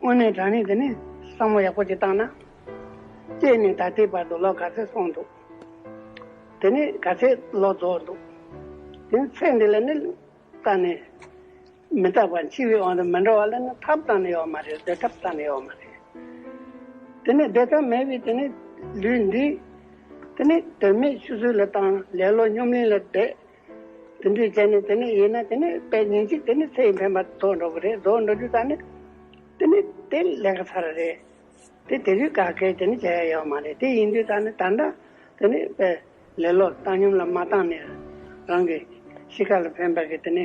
དངོས་གནས་དྲང་གནས་དེ་ནས་བསམ་བློ་ཡག་པོ་ཅིག་བཏང་ན། སྐྱེས་ནས་ད་ལྟའི་བར་དུ་ལོ་ག་ཚོད་སོང་འདུག་དེ་ནས་ག་ཚད་ལོ་རྫོགས་འདུག་དེ་ནས་ཚད་འདི་ལ་ནི་བཏང་ནས་མི་བཏགས་པར་འཆི་བའི་དབང་དུ་མི་འགྲོ་བ་ལ་ནི་ཐབས་བཏང་ནས་ཡོད་མ་རེད་བདེ་ཐབས་བཏང་ནས་ཡོད་མ་རེད། དེ་ནས་བདེ་ཐབས་མེད་པའི་དེ་ནས་ལུས་འདི་དེ་ནས་དོན་མེད་ཆུ་ཚོད་ལ་བཏང་ལེ་ལོ་སྙོམས་གླིང་ལ་བསྡད། དེ་འདྲའི་ཚེ་ནི་དེ་ནི་ཡིན་ན་དེ་ནི་དཔེ་ཉིན་གཅིག་དེ་ནི་ཚེ་ཡི་འཕེན་པ་རྫོགས་འགྲོ་གི་རེད་རྫོགས་འགྲོ་རྒྱུ་དང་ནི་དེ་ནི་དེ་ལས་ཀ་ཚར་རེད། དེ་དེ་བཞིན་ག་གེ་དེ་ནི་བྱ་ཡ་ཡོད་མ་རེད་དེ་ཡིན་དུས་ད་ནི་ད་འདྲ་དེ་ནི་དཔེ་ལེ་ལོ་བཏང་སྙོམས་ལ་མ་བཏང་ནས་རང་གི་གཤིས་ཀ་ལ་འཕེན་པ་གི་དེ་ནི་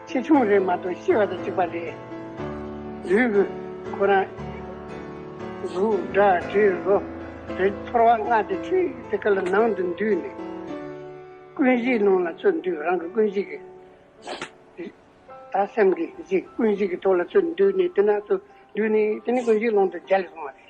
ཆེ་ཆུང་རེད་མ་གཏོགས་ཤི་བ་དང་འཇིག་པ་རེད། དུས་ཀྱི་ཁོ་རང། གཟུགས་སྒྲ་དྲི་རོ། རེག་ཚོར་བ་ལྔ་སྟེ་ཆུ་ཡི་དེ་ཀ་ལ་ནང་དུ་འདུས་ནས། ཀུན་གཞིའི་རླུང་ལ་ཚུར་འདུས་རང་གི་ཀུན་གཞི་གི། དང་སེམས་ཀྱི་གཞི་ཀུན་གཞི་གི་ཐོག་ལ་ཚུར་འདུས་ནས་དེ་ནང་དུ་འདུས་ནས་དེ་ནས་ཀུན་གཞིའི་རླུང་དུ་རྒྱ་ལས་སོང་བ་རེད།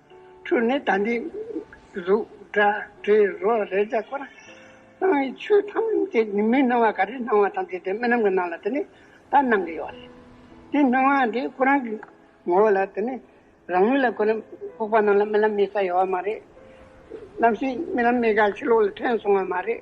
ཁྲུས་ནི་དམ་པའི་གཟུགས་སྒྲ་དྲི་རོ་རེག་བྱ་སྐོར་གསང་བའི་ཆོས་ཐམས་ཅད་ནི་མི་སྣང་བ་ག་རེ་སྣང་བ་ཐམས་ཅད་དེ་རྨི་ལམ་གྱི་སྣང་ལ་དེ་ནི་ད་སྣང་གི་ཡོད་རེད། དེ་སྣང་བ་དེ་ཁོ་རང་གི་ངོ་བོ་ལ་དེ་ནི་རང་མོས་ལ་ཁོ་ནི་ཕོག་པ་སྣང་ལ་རྨི་ལམ་རྨི་ས་ཡོད་བ་མ་རེད། རྣམ་ཤེས་རྨི་ལམ་རྨི་ག་ཕྱི་ལོག་ལ་ཐོན་སོང་བ་མ་རེད།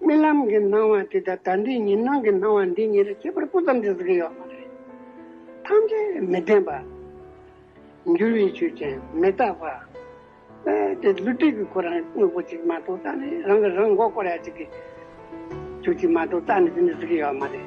རྨི་ལམ་གྱི་སྣང་བ་དེ་དང་ད་ལྟའི་ཉིན་སྣང་གི་སྣང་བ་འདི་གཉིས་ལ་ཁྱད་པར་སྤུ་ཙམ་དུ་བཟོ་གི་ཡོད་མ་རེད། ཐམས་ཅད་མི་བདེན་པ། འགྱུར་བའི་ཆོས་ཅན་མི་རྟག་པ། དེ་བསླུ་བྲིད་ཀྱི་ཁོ་རང་དངོས་པོ་ཅིག་མ་གཏོགས་རྟག་ནི་རང་གིས་རང་མགོ་སྐོར་ཡ་ཅིག་གི་ཆོས་ཅིག་མ་གཏོགས་རྟག་ནི་ཟིན་ནི་ཟིན་གི་ཡོད་མ་རེད།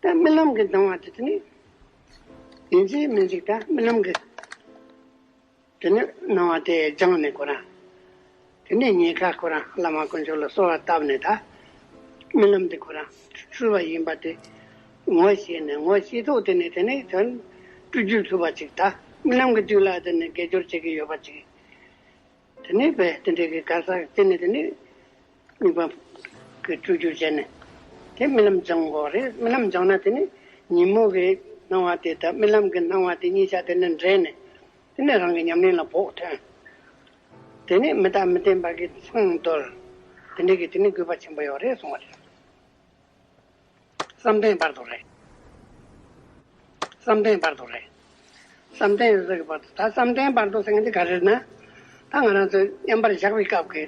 རྨི་ལམ་གྱི་སྣང་བ་དེ་དེ་ནི་ཡིན་གྱི་མི་འཇིག་ད་རྨི་ལམ་གྱི་དེ་ནི་སྣང་བ་དེ་སྦྱངས་ནས་ཁོ་རང་དེ་ནས་ཉེས་ཁ་ཁོ་རང་བླ་མ་དཀོན་མཆོག་ལ་གསོལ་བ་བཏབ་ནས་ད་རྨི་ལམ་དེ་ཁོ་རང་འཁྲུལ་བ་ཡིན་པ་དེ་ངོ་ཤེས་ནས་ངོ་ཤེས་ཐོག་དེ་ནས་དེ་ནི་དོན་སྤྲུལ་རྒྱུད་ལྷུས་པ་ཅིག་ད་རྨི་ལམ་གྱི་དུས་ལ་དེ་ནི་དགེ་སྦྱོར་བྱེད་ཀྱི་ཡོད་པ་ཅིག་དེ་ནས་བས་དེ་འདྲའི་གི་གར་ཟག་དེ་ནས་དེ་ནས་གཉིས་པ་གི་སྤྲུལ་བསྒྱུར་བྱས་ནས་དེ་རྨི་ལམ་སྦྱང་གོ་རེ་རྨི་ལམ་སྦྱང་ན་དེ་ནས་ཉིན་མོ་གི་སྣང་བ་དེ་དང་རྨི་ལམ་གི་སྣང་བ་དེ་གཉིས་ཆ་དེ་ནས་འདྲེས་ནས་དེ་ནས་རང་གི་ཉམས་ལེན་ལ་བོགས་ཐོན། དེ་ནས་མི་རྟག་མི་བརྟན་པ་གི་མཚང་འདོར། དེ་འདྲའི་གི་དེ་ནས་དགོས་པ་ཆེན་པོ་ཡོད་རེ་གསུང་བ་རེད། བསམ་གཏན་བར་དོ་རེད། བསམ་གཏན་བར་དོ་རེད། བསམ་གཏན་ཟེར་གི་བར་དོ་ད་བསམ་གཏན་བར་དོ་ཟེར་མཁན་དེ་ག་རེད་ན། ད་ང་རང་ཚོས་མཉམ་པར་བཞག་པའི་སྐབས་ཀྱི་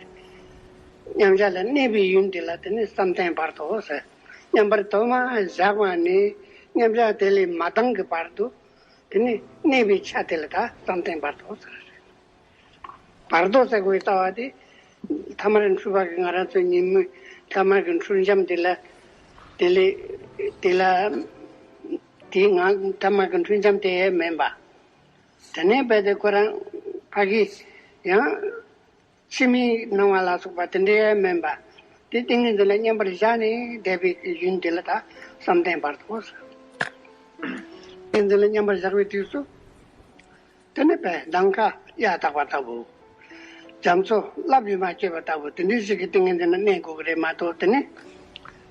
མཉམ་བཞག་ལ་གནས་པའི་ཡུལ་འདི་ལ་དེ་ནི་བསམ་གཏན་བར་དོ་ཟེར། མཉམ་པར་དོ་མ་བཞག་པ་ནས་མཉམ་བཞག་དེ་ལས་མ་ལྡང་གི་བར་དུ་དེ་ནི་གནས་པའི་ཆ་དེ་ལ་ད་བསམ་གཏན་བར་དོ་ཟེར་བ་རེད། བར་དོ་ཟེགས་པའི་ལྟ་བ་སྟེ། ཐ་མར་འཁྲུལ་པ་གི་ང་རང་ཚོའི་ཉིན་མོའི་ཐ་མར་གི་འཁྲུལ་འབྱམས་དེ་ལ། དེ་ལས། དེ་ལ། དེའི་ངང་ཐ་མར་གི་འཁྲུལ་འབྱམས་དེ་ཡས་མས་འབའ། དེ་ནས་རྦད་དེ་ཁོ་རང། ཕ་གི། ཡང། ཕྱི་མའི་སྣང་བ་ལ་སོགས་པ་དེ་འདྲ་ཡས་མས་འབའ། དེ་ཏིང་ངེ་འཛིན་ལ་མཉམ་པར་བཞག་ནས་བསྡད་པའི་རྒྱུན་དེ་ལ་དག་བསམ་གཏན་བར་དོ། ཏིང་ངེ་འཛིན་ལ་མཉམ་པར་བཞག་པའི་དུས་སུ། དེ་ནི་བས་མདངས་ཁ་གཡའ་བཏགས་པ་ལྟ་བུ། རྒྱ་མཚོ་རླབས་ཡུལ་མ་སྐྱེས་པ་ལྟ་བུ་དེ་འདྲའི་ཞིག་གི་ཏིང་ངེ་འཛིན་ལ་གནས་དགོས་ཀྱི་རེད་མ་གཏོགས་དེ་ནི།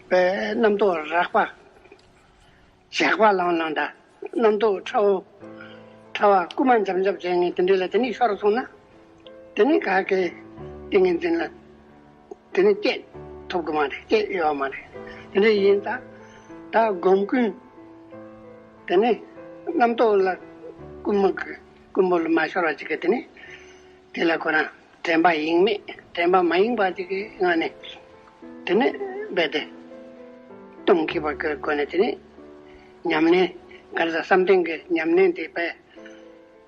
བས་རྣམ་རྟོག་རགས་པ། ཞགས་པ་ལང་ལང་འདྲ། རྣམ་རྟོག་ཁྲ་བོ། ཁྲ་བ་རྐུ་མ་འཇམ་འཇམ་བྱེད་ངེས་དེ་འདྲའི་ལ་དེ་ནི་ཤོར་སོང་ན། དེ་ནི་ག་གེ། ཏིང་ངེ་འཛིན་ལ། དེ་ནི་སྐྱེས་ཐུབ་ཀྱི་མ་རེད་སྐྱེས་ཡོད་པ་མ་རེད། དེ་འདྲ་ཡིན་ད། ད་སྒོམ་ཀུན། དེ་ནི་རྣམ་རྟོག་ལ་ཀུན་མ་གྱི་ཀུན་པོ་ལ་མ་ཤོར་བ་ཅིག་གིས་དེ་ནི། དེ་ལ་ཁོ་རང་དྲན་པ་ཡེངས་མེད་དྲན་པ་མ་ཡེངས་པ་ཅིག་གི་ངང་ནས། དེ་ནི་རྦད་དེ། སྟོང་གི་བར་གྱི་སྒོ་ནས་དེ་ནི། ཉམས་ལེན། གང་ཟག་བསམ་གཏན་གྱི་ཉམས་ལེན་དེ་རྦད།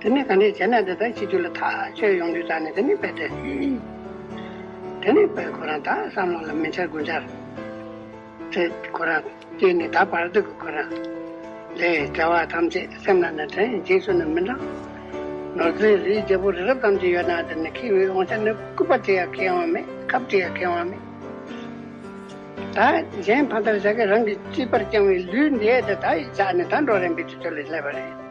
དེ་ནས་གང་འདྲས་བྱས་ན་འདི་དག་ཕྱི་རྒྱུད་ལ་ཐག་ཆོད་ཡོང་དུས་ད་ནི་དེ་ནི་དཔེ་སྟེ། དེ་ནི་དཔེ་ཁོ་རང་དག་བསམ་བློ་ལ་མི་འཆར་དགུ་འཆར། ཚེ་ཁོ་རང་སྐྱེས་ནས་ད་བར་དུ་གི་ཁོ་རང། ལས་བྲལ་བ་ཐམས་ཅད་སེམས་ལ་ནི་དྲན་རྗེས་སུ་ནི་མི་འབྲང། ནོར་རྫས་རིའི་རྒྱལ་པོ་རི་རབ་ཙམ་གྱི་ཡོད་ན་དེ་ནི་ཁེ་བའི་དབང་ཆ་ནི་སྐུད་པ་དེ་ཡང་ཁེ་དབང་མེད་ཁབ་དེ་ཡང་ཁེ་དབང་མེད། ད་གཞན་ཕ་མཐར་བྱ་དགའི་རང་གིས་ཅི་བར་བསྐྱངས་བའི་ལུས་འདི་དེ་དག་ཡི་ཕྱག་ནི་ད་འགྲོ་རན་པའི་དུས་ཚོད་ལས་སླེབས་པ་རེད།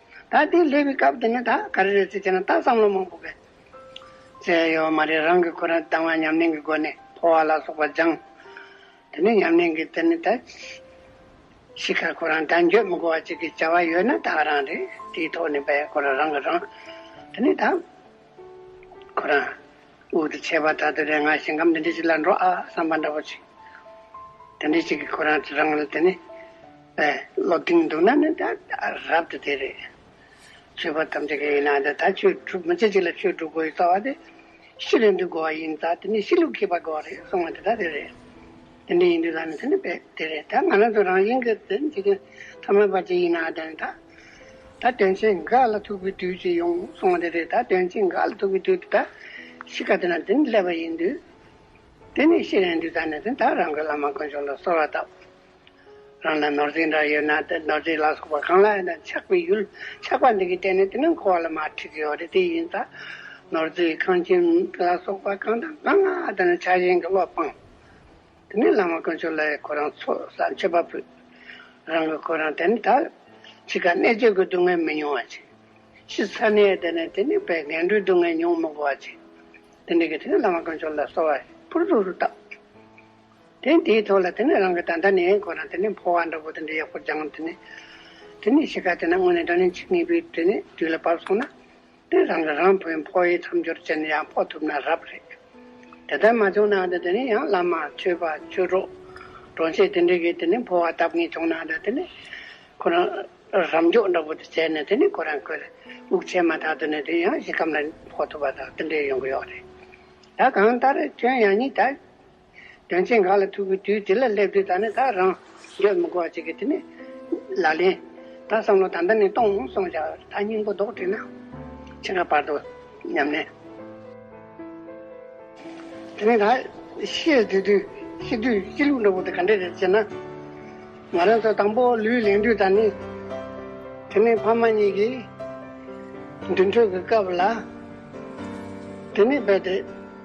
ད་དེ་སླེབས་པའི་སྐབས་དེ་ནས་ད་ག་རེ་རེད་ཚེ་བྱས་ན་ད་བསམ་བློ་མང་པོ་དགོས། ཚེ་ཡོད་མ་རེད་རང་གི་ཁོ་རང་སྡང་བ་ཉམས་ལེན་གྱི་སྒོ་ནས་འཕོ་བ་ལ་སོགས་པ་སྦྱངས། དེ་ནས་ཉམས་ལེན་གྱི་དེ་ནས་ད་ཤི་ཁར་ཁོ་རང་དལ་འགྱོད་མི་དགོ་བ་ཅིག་གི་བྱ་བ་ཡོད་ན་ད་རང་རེད་དེའི་ཐོག་ནས་བས་ཁོ་རང་རང་གི་རང། དེ་ནས་ད་ཁོ་རང་དབུགས་དེ་ཆད་པ་ད་དུས་རེ་ང་ཞིང་ཁམས་དེ་འདྲས་ཅིག་ལ་འགྲོ་ཨ་བསམ་པ་འདྲ་པོ་ཅིག་དེ་འདྲས་ཅིག་གི་ཁོ་རང་རང་ལ་དེ་ནས། བློ་གཏིང་འདུག་ན་ནི་ད་རབ་ཏུ་དེ་རེད། ཆོས་པ་ཐམས་ཅད་ཀྱི་ཡིན་ན་ད་ཆོས་བསྒྲུབ་མི་བྱེད་ཅིག་ལ་ཆོས་བསྒྲུབ་དགོས་ཡི་རྩ་བ་དེ་ཤི་རེ་འདུག་དགོས་བ་ཡིན་ད་དེ་ནི་ཤི་ལུགས་མཁས་པ་དགོས་བ་རེད་གསུང་བ་དེ་དག་དེ་རེད། དེ་འདྲ་ཡིན་དུས་ད་ནི་དེ་ནི་དཔེ་དེ་རེད་ད་ང་རང་ཚོ་རང་བཞིན་གྱི་དོན་བྱེད་མཁན་ཐ་མལ་པ་ཅིག་ཡིན་ན་ད་ནི་ད་ད་དོན་བྱེད་འགའ་ལ་ཐུག་པའི་དུས་ཅིག་ཡོང་གསུང་བ་དེ་རེད་ད་དོན་བྱེད་འགའ་ལ་ཐུག་པའི་དུས་དེ་ད་ཤི་ག་དེ་ན་དེ་ནི་སླེབས་པ་ཡིན་དུས་དེ་ནི་ཤི་རེ་འདུག་ད་ནི་དེ་ད་རང་གི་བླ་མ་དཀོན་མཆོག་ལ་གསོལ་བ་བཏབ། རང་ལ་ནོར་རྫས་འདྲ་ཡོད་ན་དེ་ནོར་རྫས་ལ་སོགས་པ་གང་ལ་ཡང་ཆགས་པའི་ཡུལ་ཆགས་པ་འདི་གིས་བལྟས་ནས་དེ་ནི་འཁོར་བ་ལ་མ་འཁྲིད་ཀྱི་ཡོད་རེད་དེ་ཡིན་ད། ནོར་རྫས་ཁང་ཁྱིམ་ལ་སོགས་པ་གང་དང་གང་ང་དེ་ནི་ཆགས་ཞེན་གྱི་བློ་སྤངས། དེ་ནས་བླ་མ་དཀོན་མཆོག་ལ་ཡང་ཁོ་རང་ཚོ་ས་མཆོད་པ་ཕུལ། རང་གི་ཁོ་རང་དེ་ནི་ད་འཆི་ཁར་གནད་གཅོད་ཀྱི་སྡུག་བསྔལ་མི་མྱོང་བ་བྱས། ཤི་ཚར་ནས་དེ་ནི་དེ་ནས་བས་འགལ་འགྲོའི་སྡུག་བསྔལ་མྱོང་མི་དགོས་པ་བྱས། དེ་འདྲ་གིས་དེ་ནས་བླ་མ་དཀོན་མཆོག་ལ་གསོལ་བ་ཕུར་ཚུགས་སུ་བཏབ། དེ་དེའི་ཐོག་ལ་དེ་ནས་རང་གི་ད་ལྟ་ནས་ཁོ་རང་དེ་ནས་འཕོ་བ་འདྲ་བོ་དེ་འདྲ་ཡག་པོ་སྦྱང་ངམ་དེ་ནས། དེ་ནས་ཕྱི་ཁ་དེ་ན་དངོས་གནས་འདྲ་ནས་འཆི་ངེས་པའི་དེ་ནས་དུས་ལ་བབས་སོང་ན། དེ་རང་གི་རང་ཕོའི་འཕོ་བའི་མཚམས་སྦྱོར་བྱས་ནས་ཡང་འཕོ་ཐུབ་ན་རབ་རེད། དེ་ལྟར་མ་བྱུང་ན་འདྲ་དེ་ནས་ཡང་བླ་མ་ཆོས་པ་ཆོས་གྲོགས། གྲོང་ཆས་དེ་འདྲ་གིས་དེ་ནས་འཕོ་བ་བཏབ་ངེས་བྱུང་ན་འདྲ་དེ་ནས། ཁོ་རང་རབ་མགྱོགས་འདྲ་བོ་དེ་བྱས་ནས་དེ་ནས་ཁོ་རང་ཁོའི་དབུགས་ཆད་མ་ཐག་ཏུ་ནས་དེ་ཡང་གཞི་སྐམ་ལ་འཕོ་ཐུབ་པ་དང་དེ་འདྲའི་ཡོང་གི་ཡོད་རེད། ད་གང་ལྟར་ཁྱོད་ཡང་གཉིད་ད། དོན་ཆེན་འགའ་ལ་ཐུག་པའི་དུས་དེ་ལ་སླེབས་དུས་ད་ནི་ད་རང་འགྱོད་མི་གོ་བ་ཅིག་གིས་དེ་ནི། ལ་ལེན། ད་བསམ་བློ་ད་འདི་ནས་གཏོང་ངོ་སོང་བྱ། ད་སྙིང་པོ་རྡོག་བྲིས་ན། ཕྱི་དགའ་བར་དོ། སྙམ་ནས། དེ་ནས་ད། ཤེས་བདེ་དུས། ཤེས་དུས་སྐྱིད་ལུག་འདྲ་བོ་དེ་ག་འདྲས་རེད་ཅེ་ན། ང་རང་ཚོ་དང་པོ་ལུས་ལེན་དུས་ད་ནི། དེ་ནི་ཕ་མ་གཉིས་ཀྱིས། མདུན་གྲོས་ཀྱི་སྐབས་ལ། དེ་ནི་རྦད་དེ།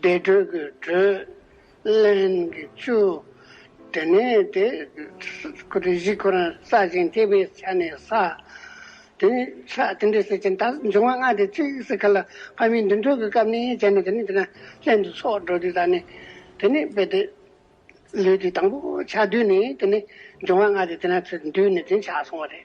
བདེ་དྲོད་ཀྱི་དྲོད། རླན་གྱི་བཅུ། དེ་ནས་དེ། བཞི་ཁོ་ནར་ས་ཞིང་སྐྱེས་པའི་ཆ་ནས་ས། དེ་ནས་ཆ་དེ་འདྲའི་སེལ་ཅན་དག་འབྱུང་བ་ལྔ་སྟེ་གཅིག་སྲིད་མཁའ་ལ་དཔའ་མི་འདུན་དྲོད་ཀྱི་སྐབས་ནས་བྱས་ནས་དེ་ནས་དེ་ན་རླན་དུ་སོགས་འགྲོ་དུས་དག་ནས། དེ་ནས་དཔེ་དེ། ལུས་དེ་དང་པོ་ཆ་བསྡུས་ནས་དེ་ནས་འབྱུང་བ་ལྔ་སྟེ་དེ་ན་ཚུལ་བསྡུས་ནས་དེ་ཆ་སོང་བ་རེད།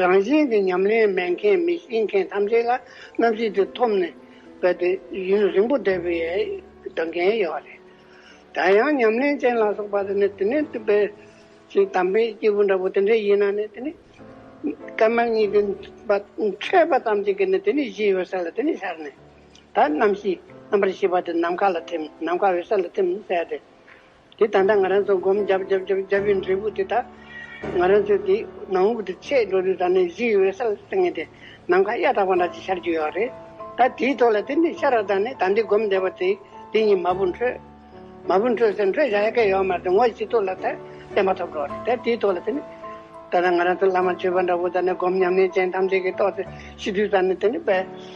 རང་བཞིན་གྱི་ཉམས་ལེན་མེད་མཁན་མི་ཤེས་མཁན་ཐམས་ཅད་ལ་རྣམ་ཤེས་དེ་ཐོབ་ནས་བས་ཏེ་ཡུན་རིང་པོ་བསྡད་པའི་དགའ་མཁན་ཡོད་པ་རེད། ད་ཡང་ཉམས་ལེན་ཅན་ལ་སོགས་པ་དེ་ནི་དེ་ནས་བཏུས་པའི་ཞིག་དམ་པའི་སྐྱེས་བུ་འདྲ་བོ་དེ་འདྲས་ཡིན་ན་ནི་དེ་ནི་སྐལ་དམན་གཉིས་ཀྱི་བ་འཕྲད་པ་ཙམ་གྱིས་ཀྱི་ནི་དེ་ནི་གཞི་འོད་གསལ་ལ་དེ་ནི་ཤར་ནས་ད་རྣམ་ཤེས་རྣམ་པར་ཤེས་པ་དེ་ནམ་མཁའ་ལ་ཐིམ་ནམ་མཁའ་འོད་གསལ་ལ་ཐིམ་ཟེར་ཏེ། དེ་ད་ལྟ་ང་རང་ཚོ་སྒོམ་རྒྱབ་རྒྱབ་རྒྱབ་རྒྱབ་པའི་འབྲས་བུ་དེ་དག་ང་རང་ཚོའི་དེ་ནང་དབུགས་དེ་ཚད་འགྲོ་དུས་ད་ནི་གཞི་ཡི་འོད་གསལ་ལྟ་ངེས་ཏེ་ནམ་མཁའ་གཡའ་དག་པ་འདྲ་ཅིག་ཤར་རྒྱུ་ཡོད་རེད། ད་དེའི་ཐོག་ལ་དེ་འདྲའི་ཤར་བ་དག་ནི་ད་འདི་སྒོམ་བསྡད་པ་དེ་དེ་ཉིད་མ་བུ་འཕྲོད། མ་བུ་འཕྲོད་ཟེར་འཕྲོད་བཞག་ཡ་གལ་ཡོད་མ་རེད་དེ་ངོ་ཤེས་ཐུབ་ལ་དེ་བསྟན་པ་ཐོབ་འགྲོ་བ་རེད་ད་དེའི་ཐོག་ལ་དེ་ནི་ད་ལྟ་ང་རང་ཚོ་བླ་མ་བྱོན་པ་འདྲ་བོ་ད་ནི་སྒོམ་ཉམས་ལེན་ཅན་ཐམས་ཅད་ཀྱིས་རྟོགས་ཏེ་ཤི་དུས་ད་ནི་དེ་ནི་དཔལ།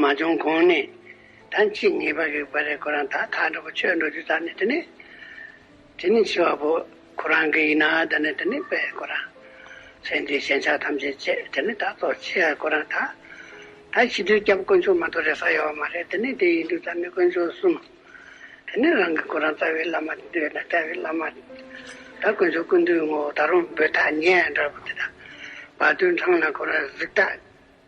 མ་བྱུང་གོང་ནས་ད་ཅི་ངེས་པ་རིག་པ་རེད་ཁོ་རང་ད་མཐའ་འགྲོ་པོ་ཆོས་འགྲོ་རྒྱུ་ཙམ་ནས་དེ་ནས་དེ་ནས་འཆི་བ་པོ་ཁོ་རང་གི་ཡིན་ན་ད་ནས་དེ་ནས་པས་ཁོ་རང་ཚེ་འདིའི་ཞེན་ཆགས་ཐམས་ཅད་བཅད་དེ་ནས་ད་གཏོར་ཆེ་ཡ་ཁོ་རང་ད་ད་ཕྱི་དུས་སྐྱབས་དཀོན་མཆོག་མ་གཏོགས་རེ་ས་ཡོད་བ་མ་རེད་དེ་ནས་དེ་ཡིན་དུས་ད་ནས་དཀོན་མཆོག་གསུམ་དེ་ནས་རང་གི་ཁོ་རང་རྩ་བའི་བླ་མ་འདི་ཡོད་ན་རྩ་བའི་བླ་མ་ད་དཀོན་མཆོག་ཀུན་འདུས་ངོ་བོ་ད་རང་འབོད་ཐག་ཉེ་ཡ་འདྲ་པོ་དེ་ད་བར་དུས་འཕྲང་ལ་ཁོ་རང་གཟིགས་ཐག།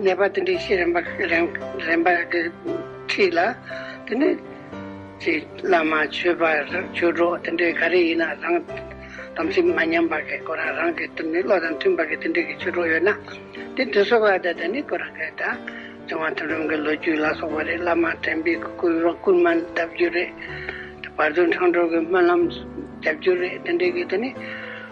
ནད་པ་དེ་འདྲའི་ཤེས་རན་པ་རན་རན་པ་དེ་ཁྲིད་ལ། དེ་ནས་ཅེས་བླ་མ་ཆོས་པ་ཆོས་གྲོགས་དེ་འདྲའི་ག་རེ་ཡིན་ན་རང་དམ་ཚིག་མ་ཉམས་པ་གི་སྐོར་རང་རང་གི་དོན་མེད་བློ་དང་མཐུན་པ་གི་དེ་འདྲའི་གི་ཆོས་གྲོགས་ཡོད་ན། དེ་དེ་སོགས་ལ་དེ་དེ་ནི་ཁོ་རང་གི་ད་ལྕང་བ་ཐུབ་རིམ་གི་ལོ་རྒྱུས་ལ་སོགས་པ་རེ་བླ་མ་དྲན་པའི་སྐུ་རོ་སྐུར་མ་གདབ་རྒྱུ་རེད། བར་དོའི་འཕྲང་གྲོལ་གི་སྨོན་ལམ་རྒྱབ་རྒྱུ་རེད་དེ་འདྲའི་གི་དེ་ནི།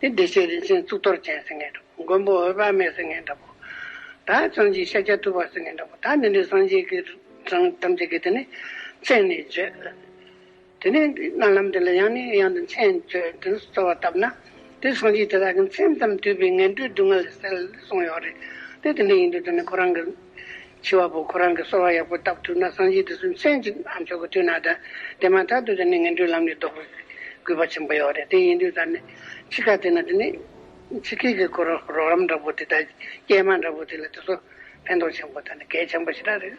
དེ་བདེ་གཤེགས་རིན་ཆེན་གཙུག་ཏོར་ཅན་སེང་གེ་འདྲ་བོ་མགོན་པོ་འོད་དཔག་མེད་སེང་གེ་འདྲ་བོ། དག་བྱང་གི་ཤཱཀྱ་ཐུབ་པ་སེང་གེ་འདྲ་བོ་དག་འདི་འདྲའི་སངས་རྒྱས་ཀྱི་རང་ཐམས་ཅད་ཀྱི་དེ་ནི་མཚན་ནས་བརྗོད། དེ་ནས་སྨོན་ལམ་འདི་ལ་ཡང་ནས་ཡང་དུ་མཚན་བརྗོད་དེ་གསོལ་བ་བཏབ་ན། དེ་སངས་རྒྱས་དེ་དག་གི་མཚན་ཙམ་བསྡུས་པའི་ངན་འགྲོའི་སྡུག་བསྔལ་ལས་སེལ་སོང་ཡོད་རེད་དེ་དེ་འདྲ་ཡིན་དུས་དེ་ནི་ཁོ་རང་གི། འཆི་བ་པོ་ཁོ་རང་གི་གསོ་བ་ཡག་པོ་བཏབ་ཐུབ་ན་སངས་རྒྱས་དེ་སུན་མཚན་གཅིག་ཨ་མཆོག་གི་དུས་ན་དང་དེ་མ་ཐག་ཏུ་དེ་ནི་ངན་འགྲོའི་ལམ་ནས་ལྡོག་པའི་གུས་པ་ཆེན་པོ་ཡོད་རེད་དེ་ཡིན་དུས་ད་ནི་འཆི་ཁ་དེ་ན་དེ་ནི་འཆི་སྐད་ཀྱི་གོ་རོགས་རམ་འདྲ་པོ་དེ་དང་སྐྱེལ་མ་འདྲ་པོ་དེ་ལ་དེ་ཚོ་ཕན་ཐོགས་ཆེན་པོ་དང་གལ་ཆེན་པོ་ཞིག་རག་རེད།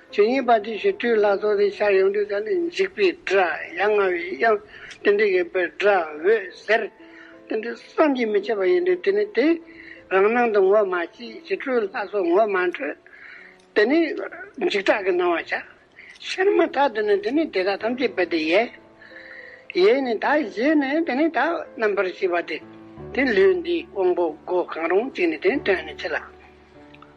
ཇི་སྙེད་པ་དེ་བཞིན་སྤྲུལ་ལྷ་ཚོགས་དེ་ཤར་ཡོངས་འདུས་དང་ནི་འཇིགས་པའི་སྒྲ་ཡ་ང་བའི་དབྱངས་ཏིལ་འབྲུ་ཡིན་པས་སྒྲ་འོད་ཟེར་ཏིལ་འབྲུ་བསམ་གྱིས་མི་ཁྱབ་པ་ཡིན་ཏེ་དེ་ནི་དེ་རང་སྣང་དུ་ངོ་མ་སྐྱེ་ཞིང་སྤྲུལ་ལྷ་སོགས་ངོ་མ་འཕྲོད་དེ་ནི་འཇིགས་སྐྲག་གི་སྣང་བ་བྱ། ཤར་མ་ཐག་ཏུ་ནི་དེ་ནི་དེ་དག་ཐམས་ཅད་པའི་དེ་ཡས་ཡས་ནི་དག་བཞེས་ནས་དེ་ནི་དག་རྣམ་པར་ཤེས་པ་སྟེ། དེ་ལུས་འདིའི་དབང་པོ་སྒོ་གང་རུང་གཅིག་ནི་དེ་ནི་དོན་ནི་ཆེ་ལ།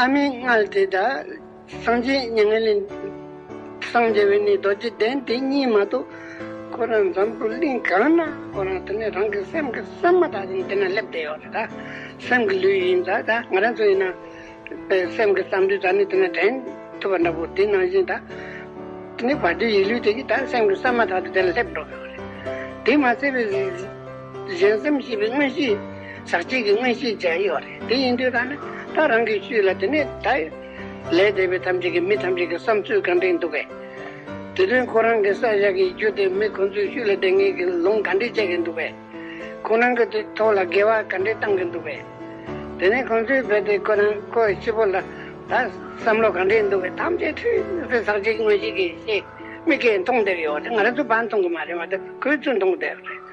ཨ་མའི་མངལ་དེ་དག་སངས་རྒྱས་མྱ་ངན་ལས་སངས་རྒྱས་པའི་གནས་རྡོ་རྗེ་གདན་དེ་གཉིས་མ་གཏོགས་ཁོ་རང་འཛམ་བུའི་གླིང་གང་ན་ཁོ་རང་དེ་ནས་རང་གི་སེམས་ཀྱི་སེམས་མ་དག་ཅིང་དེ་ན་སླེབས་བསྡད་ཡོད་ད། སེམས་ཀྱི་ལུས་ཡིན་ད་ད་ང་རང་ཚོ་ཡིན་ན། པའི་སེམས་ཀྱི་བསམ་དུས་ད་ནི་དེ་ན་དྲན་ཐུབ་པ་འདྲ་པོ་དེ་ནང་བཞིན་ད། དེ་ནས་བར་དོའི་ཡིད་ལུས་དེ་གཉིས་ད་སེམས་ཀྱི་སེམས་མ་དག་ཏུ་དེ་ལ་སླེབས་འགྲོ་གི་ཡོད་རེད། དེ་མ་ཚད་པའི། གཞན་སེམས་ཞེས་པའི་མངོན་ཤེས། ཟག་བཅས་ཀྱི་མངོན་ཤེས་བཅས་ཡོད་རེད་དེ་ཡིན་དུས་ད་ནི་ད་རང་གིས་ཤུས་ལ་དེ་ནས་ད། ལས་འདས་པའི་ཐམས་ཅད་ཀྱི་མི་ཐམས་ཅད་ཀྱི་བསམ་ཚུལ་གང་དྲན་འདུག་པས། དེ་དོན་ཁོ་རང་གི་ས་བཞག་གི་རྒྱུ་དེ་མི་ཁོ་ཚོས་ཤུས་ལ་བདེན་གཉིས་ཀྱི་ལུང་ག་འདྲས་སྤྱད་ཀྱི་འདུག་པས། ཁོ་རང་གི་དེ་ཐོག་ལ་འགལ་བ་ག་འདྲས་བཏང་གི་འདུག་པས། དེ་ནས་ཁོ་ཚོས་བོས་ཏེ་ཁོ་རང་ཁོ་ཡི་ཕྱི་བོ་ལ་ད། བསམ་བློ་གང་འདྲས་འདུག་པས་ཐམས་ཅད་འཁྲུལ་པའི་ཟག་བཅས་ཀྱི་མངོན་ཤེས་ཀྱིས་ཤེས། མི་སྐད་མཐོང་བསྡད་ཡོད་རེད་ང་རང་ཚོ་བར་མཐོང་གི་མ་རེད་མ་ཏོག་ཁོས་ཚོས་མཐོང་བསྡད་རེད།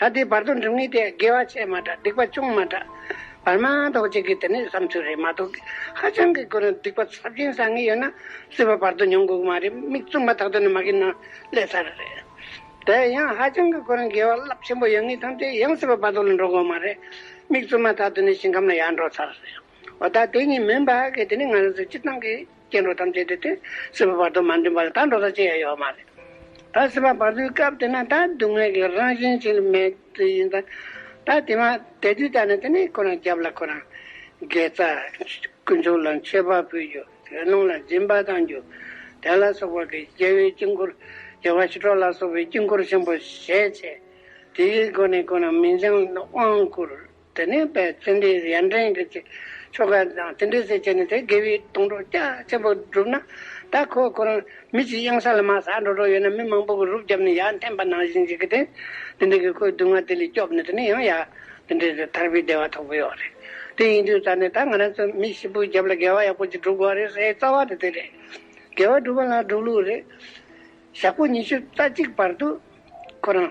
ད་ལྟའི་བར་དུ་འགྲིམ་ངེས་དེ་དགེ་བ་ཆེས་མ་དྲག་སྡིག་པ་ཅུང་མ་དྲག། བར་མ་དོག་བྱེད་དགོས་དེ་ནི་བསམ་ཚུལ་རེད་མ་གཏོགས་ཧ་ཅང་གི་དགོས་ན་སྡིག་པ་ཚབས་ཆེན་བསགས་ངེས་ཡོད་ན་སྲིད་པ་བར་དུ་མྱོང་དགོས་ཀྱི་མ་རེད་མིག་བཙུམ་པ་དག་ཏུ་ནི་མ་གིན་ན་ཀླད་ཚ་རེ་རེད། དེ་ཡང་ཧ་ཅང་གི་དགོས་ན་དགེ་བ་རླབས་ཆེན་པོ་ཡོད་ངེས་ཐམས་ཅད་ཡང་སྲིད་པ་བར་དོ་ལ་འགྲོ་དགོས་མ་རེད་མིག་བཙུམ་པ་དག་ཏུ་ནི་ཞིང་ཁམས་ལ་ཡར་འགྲོ་ཚར་རེད། འོ་ད་དེ་གཉིས་མིན་པ་གིས་དེ་ནི་ང་རང་ཚོའི་སྤྱིར་བཏང་གི། སྐྱེ་འགྲོ་ཐམས་ཅད་དེ་སྟེ་སྲིད་པ་བར་དོ་མ་འདྲེན་པ་ལ་ད་འགྲོ་ཟ་ཆེན་ཡང་ཡོད་མ་རེད། ད་སྲིད་པ་བར་དོའི་སྐབས་དེ་ན་ད་སྡུག་བསྔལ་གྱི་རང་བཞིན་ཅིག་ལ་མེད་དུ་ཡིན། ད་དེ་མ་དེ་དུས་ད་ནི་དེ་ནས་ཁོ་རང་རྒྱབ་ལ་ཁོ་རང་དགེ་རྩ་དཀོན་མཆོག་ལ་མཆོད་པ་ཕུལ་རྒྱུ་དགེ་སློང་ལ་སྦྱིན་པ་གཏང་རྒྱུ་དེ་ལ་སོགས་པ་གི་རྒྱལ་བའི་དཀྱིལ་འཁོར་རྒྱལ་བ་ཞི་ཁྲོ་ལ་སོགས་པའི་དཀྱིལ་འཁོར་ཆེན་པོ་བཞེས་བྱས་དེའི་སྒོ་ནས་ཁོ་རང་མི་འགྱང་དབང་བསྐུར། དེ་ནས་པའི་ཙན་དན་གྱི་ཡན་ཏན་གྱི་ཆོ་ག་དང་དེ་འདྲའི་ཟས་བཅད་ནས་དེ་དགེ་བའི་དོང་གྲོགས་རྒྱ་ཆེན་པོ་བསྒྲུབས་ན། ད་ཁོ་ཁོ་རང་མི་གཅིག་གཡང་ས་ལ་མ་ས་འགྲོ་གྲོགས་ཡོད་ན་མི་མང་པོ་གི་རུབ་བརྒྱབ་ནས་ཡར་འཐེན་པ་ནང་བཞིན་གྱི་གི་དེ་དེ་འདྲའི་གི་ཁོའི་སྡུག་བསྔལ་དེ་ལས་སྐྱོབས་ནས་དེ་ནས་ཡང་ཡར་དེ་འདྲའི་དེ་ཐར་པའི་བདེ་བ་ཐོབ་གི་ཡོད་རེད། དེ་ཡིན་དུས་ད་ནས་ད་ང་རང་ཚོས་མི་ཞིག་པོའི་རྒྱབ་ལ་དགེ་བ་ཡག་པོ་ཅིག་བསྒྲུབ་དགོས་རེད་སའི་རྩ་བ་དེ་དེ་རེད། དགེ་བ་སྒྲུབ་པ་ལ་སྒྲུབ་ལུགས་རེད། ཞག་པོ་ཉི་ཤུ་རྩ་གཅིག་བར་དུ་ཁོ་རང།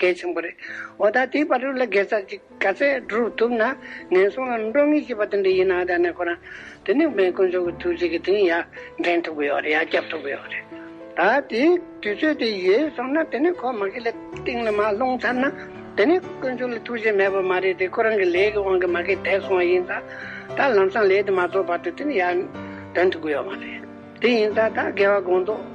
གལ་ཆེན་པོ་རེད། འོ་ད་དེའི་བར་དུ་ལ་དགེ་རྩ་གཅིག་ག་ཚད་བསྒྲུབ་ཐུབ་ན་ངན་སོང་ལམ་འགྲོ་ངེས་ཞེས་པ་དེ་འདྲ་ཡིན་ནའང་ད་ནས་ཁོ་རང་དེ་ནི་མེས་དཀོན་མཆོག་གི་ཐུགས་རྗེ་གི་དེང་ཡང་འདྲེན་ཐུབ་ཀྱི་ཡོད་རེད་ཡང་བསྐྱབ་ཐུབ་ཀྱི་ཡོད་རེད། ད་དེའི་དུས་ཚོད་དེ་ཡོལ་སོང་ན་དེ་ནས་ཁོ་མ་གི་ལ་སྟེང་ལ་མ་ལྷུང་ཚར་ན་དེ་ནས་དཀོན་མཆོག་ལ་ཐུགས་རྗེ་མེད་པ་མ་རེད་དེ་ཁོ་རང་གི་ལས་ཀྱི་དབང་གིས་མ་གི་དེད་སོང་བ་ཡིན་ཙང་ད་ལམ་སང་ལས་དེ་མ་རྫོགས་བར་དུ་དེ་ནི་ཡང་འདོན་ཐུབ་ཀྱི་ཡོད་མ་རེད། དེ་ཡིན་ཙང་ད་དགེ་བ་དགོངས་རྫོགས་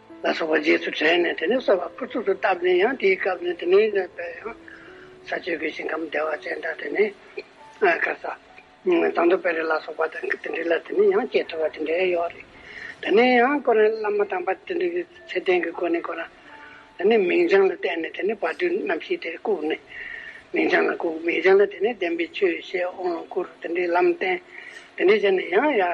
ལ་སོགས་པ་རྗེས་སུ་དྲན་ནས་དེ་ནས་གསོལ་བ་ཕུར་ཚུགས་སུ་བཏབ་ནས་ཡང་དེའི་སྐབས་ནས་དེ་ནས་གནས་པའི་ཡང་ས་སྤྱོད་ཀྱི་ཞིང་ཁམས་བདེ་བ་ཅན་དག་དེ་ནས་གར་ས། དང་དུ་བེ་རི་ལ་སོགས་པ་དང་དེ་འདྲི་ལ་དེ་ནས་ཡང་སྐྱེས་ཐུབ་པ་དེ་འདྲའི་ཡོད་རེད། དེ་ནས་ཡང་སྐོར་ནས་བླ་མ་དམ་པ་དེ་འདྲི་གི་ཚེ་རྟེན་གྱི་སྐོར་ནས་གོ་ན། དེ་ནས་མིང་བྱང་ལ་བལྟས་ནས་དེ་ནས་བར་དོའི་རྣམ་ཤེས་དེ་བཀུག་ནས། མིང་བྱང་ལ་བཀུག་མིང་བྱང་ལ་དེ་ནས་བདེན་པའི་ཆོས་བཤད་དབང་བསྐུར་དེ་འདྲའི་ལམ་བསྟན། དེ་འདྲས་བྱས་ནས་ཡང་ཡར།